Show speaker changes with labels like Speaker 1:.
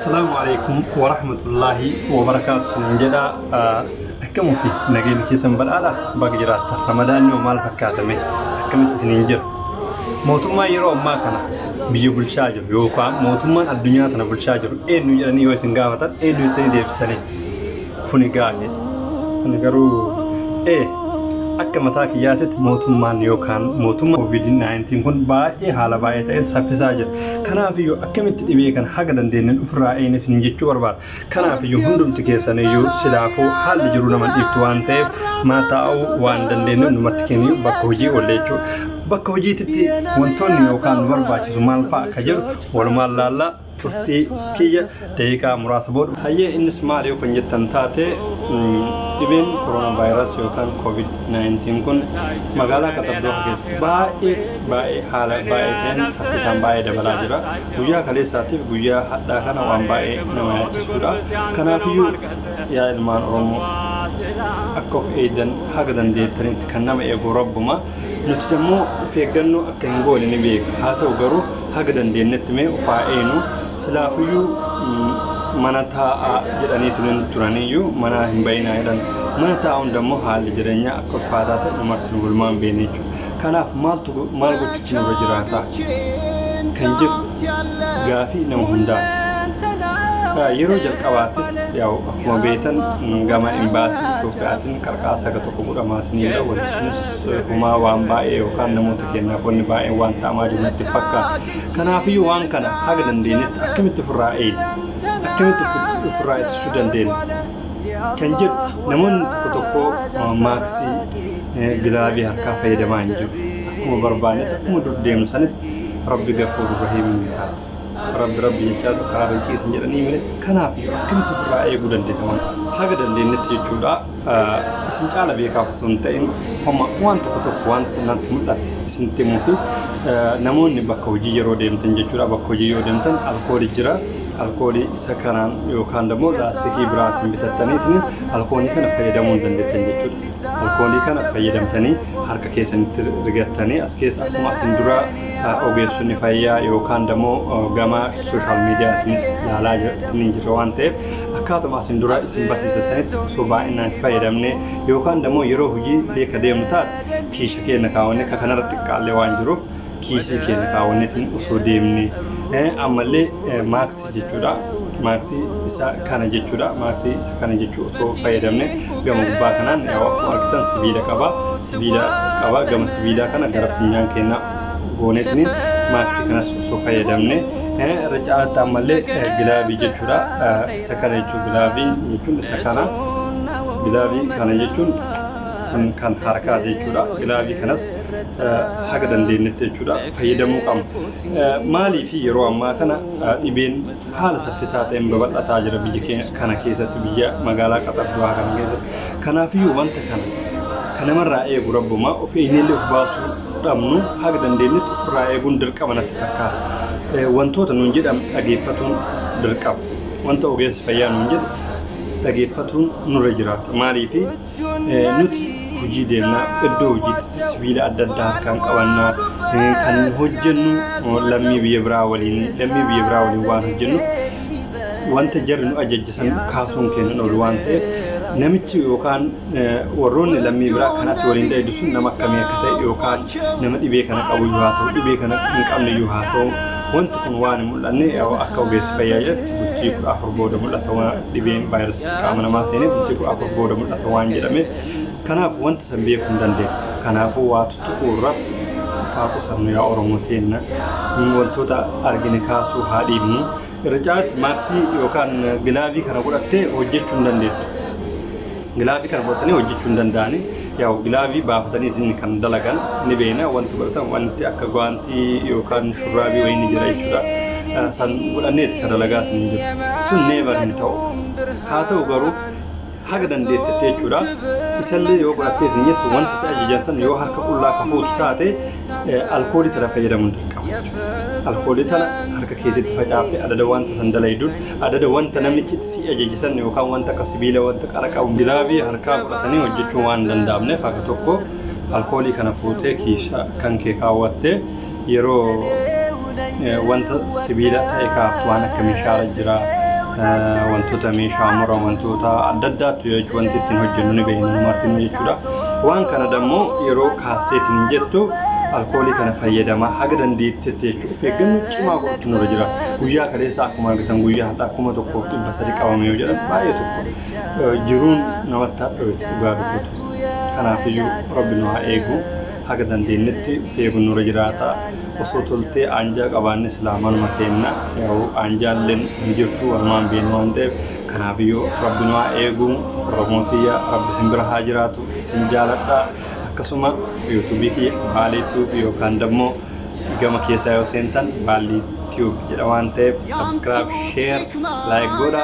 Speaker 1: Salaamu alaikum wa rahmatullahi wa barakaatu sin jedha akkam ofi nageenya keessan badhaadha baga jiraatta ramadaanni hoo maal fakkaatame akkamitti isiniin jira mootummaa yeroo ammaa kana biyya bulchaa jiru yookaan mootummaan addunyaa tana bulchaa jiru eenyu jedhanii yoo isin gaafatan eenyu jettanii deebistanii Kuni gaari. Kuni garuu A. Akka mataa kiyyaatitti mootummaan yookaan mootummaa COVID-19 kun baay'ee haala baay'ee ta'een saffisaa jira. Kanaafiyyuu akkamitti dhibee kana haga dandeenyeen ofirraa eegna isiniin jechuu barbaada. Kanaafiyyuu hundumti keessaniyyuu silaafuu haalli jiruu nama hin dhiiftu waan ta'eef mana taa'uu waan dandeenyu numatti kenniyyuu bakka hojii oolle jechuudha. Bakka hojiititti wantoonni yookaan nu barbaachisu maal fa'a akka jedhu walumaan laallaa. turtii kiyya daqiiqaa muraasa booda. Hayyee innis maal yoo kan jettan taate dhibeen koroona vaayiraas yookaan koovid 19 kun magaalaa Qatar Dooha keessatti baay'ee baay'ee haala baay'ee ta'een saffisaan baay'ee dabalaa jira. Guyyaa kaleessaatiif guyyaa hadhaa kana waan baay'ee nama yaachisuudha. Kanaafiyyuu yaa ilmaan Oromoo akka of eegdan haga dandeettanitti kan nama eegu rabbuma. Nuti dammoo of eeggannoo akka hin goone ni beekna. Haa ta'u garuu haga dandeenyetti mee of haa eenu. Silaafuyyuu mm, mana taa'aa jedhaniitu hin turaniyyuu manaa hin ba'inaa jedhan. Mana taa'uun dammoo haalli jireenyaa akka ulfaataa ta'e dhumarratti nu gulmaan beekne jechuudha. Kanaaf maaltu go- maal gochuutu nurra jiraata? kan jedhu gaafii nama hundaati. Ah, Yeroo jalqabaatiif yaa'u akkuma beektan mm, gama imbaasii Itoophiyaatiin qarqaarsa akka Dhugu dhamaat ni jira wanti sunis humaa waan baay'ee yookaan namoota keenyaaf wanni baay'een waan ta'amaa jiru natti fakkaata. Kanaafiyyuu waan kana haga dandeenyetti akkamitti ofirraa eegna? Akkamitti ofitti- ofirraa ittisuu dandeenya? Kan jedhu namoonni tokko tokko eh, maaksii eh, gilaavii harkaa fayyadamaa hin jiru. Akkuma barbaannetti akkuma dur deemnu sanitti rabbi gafuur rahiim ni taata. Rabbi rabbi jechaatu karaa irra ciisin jedhanii mire kanaaf akkamitti ofirraa eeguu dandeenya waan haga dandeenyetti jechuudha. isin caala beekaaf osoo hin ta'in homa waan tokko tokko waan natti mul'ate isinitti himuu fi namoonni bakka hojii yeroo deemtan jechuudha bakka hojii yoo deemtan alkoolii jira alkoolii isa kanaan yookaan immoo laastikii biraatiin bitattaniitiin alkoolii kana fayyadamuu hin dandeettan jechuudha alkoolii kana fayyadamtanii harka keessanitti rigattanii as keessa akkuma isin dura ogeessonni fayyaa yookaan immoo gama sooshaal miidiyaatiinis ilaalaa jirtanii jira waan ta'eef Akkaatuma asin dura isin barsiise sanitti osoo baay'inaan itti fayyadamne yookaan immoo yeroo hojii illee ka deemnu taate kiisha keenya kaawwanne ka kanarra xiqqaallee waan jiruuf kiisii keenya kaawwanneetiin osoo deemne ammallee maaksii jechuudha. Maaksii isa kana jechuudha. Maaksii isa kana jechuu osoo fayyadamne gama gubbaa kanaan yaa'u akkuma argitan sibiila qaba. Sibiila qaba gama sibiilaa kana gara funyaan keenya gooneetiin maaksii kanas osoo fayyadamne Irra caalaatti ammallee gilaabii jechuudha. Isa kana jechuun gilaabii jechuun isa kana. Gilaabii kana jechuun kan kan harkaati jechuudha. Gilaabii kanas haga dandeenyetti jechuudha fayyadamuu qabna. Maaliif yeroo ammaa kana dhibeen haala saffisaa ta'een babal'ataa jira biyya keenya kana keessatti biyya magaalaa Qaxar du'aa kana keessatti. Kanaafiyyuu wanta kana kan namarraa eegu rabbumaa of eenyullee of baasuu fudhamnu haga dandeenyetti ofirraa eeguun dirqama natti fakkaata. Wantoota nuun jedhamu dhageeffatuun dirqama. Wanta ogeessi fayyaa nuun jedhu dhageeffatuun nurra jiraata. Maaliif nuti hojii deemna, iddoo hojiitti sibiila adda addaa harkaan qabanna, kan hojjennu lammii biyya biraa waliin, lammii biyya biraa waliin waan hojjennu wanta jarri nu ajajjisan kaasuun keenya hin oolu waan ta'eef namichi yookaan warroonni lammii biraa kan ati waliin dheedu sun nama akkamii akka ta'e yookaan nama dhibee kana qabu yoo haa ta'u dhibee kana hin qabne yoo haa ta'u wanti kun waan hin mul'anne akka ogeessi fayyaa jedhatti bultii kudha afur booda mul'ata waan dhibeen vaayirasichi qaama namaa seenee bultii kudha afur booda mul'ata waan jedhame kanaaf wanti san beekuu hin dandeenye kanaafuu waa tuttuquu irratti faa qusannu yaa oromoo teenna wantoota argine kaasuu haa dhiibnu Irra caalatti maaksii yookaan gilaavii kana godhattee hojjechuu hin dandeettu. Gilaavii kana godhatanii hojjechuu hin danda'ani. Yaa'u gilaavii baafatanii isin kan dalagan ni beekna wanti godhatan wanti akka gwaantii yookaan shurraabii wayii ni jira jechuudha. Eh, San godhanneeti kan dalagaatu hin jiru. Sun neevar hin ta'u. Haa ta'u garuu haga dandeettetti jechuudha. Isallee yoo godhattees hin jettu wanti si ajajan san yoo harka qullaa ka fuutu taate eh, alkoolii tana fayyadamuun dirqama jechuudha. Alkoolii tana harka keetitti facaafte adada wanta san dalayduun adada wanta namichi itti si ajaje san yookaan wanta akka sibiila wanta qara qabu gilaavii harkaa godhatanii hojjechuun waan hin danda'amneef akka tokko alkoolii kana fuutee kiisha kan kee kaawwattee Yeroo wanta sibiila ta'e kaaftu waan akka meeshaarra jira wantoota meeshaa mura wantoota adda addaattu jira jechuudha wanti ittiin hojjennu ni beekna nu martinuu jechuudha. Waan kana dammoo yeroo kaasteetiin hin jettu alkoolii kana fayyadamaa haga dandeettetti jechuudha. Of eeggannoo cimaa godhutu nurra jira. Guyyaa kaleessa akkuma argitan guyyaa har'aa kuma tokkoof dhibba sadi qabame yoo jedhan baay'ee tokko jiruun namatti hadhooyte dhugaa dubbatuuf. Kanaafiyyuu rabbi nu haa eegu. haga dandeennetti of eeguun nurra jiraata. Osoo toltee aanjaa qabaanne silaa manuma teenna. Yaa'u aanjaalleen hin jirtu wanumaan beeknu waan ta'eef. Kanaafiyyuu Rabbi nu haa eegu. Oromoo tiyya Rabbi isin bira haa jiraatu. Isin jaaladha. Akkasuma YouTube kiyya Baalee Tube yookaan dammoo gama keessaa yoo seentan Baallii Tube jedha waan ta'eef subscribe, share, like godha.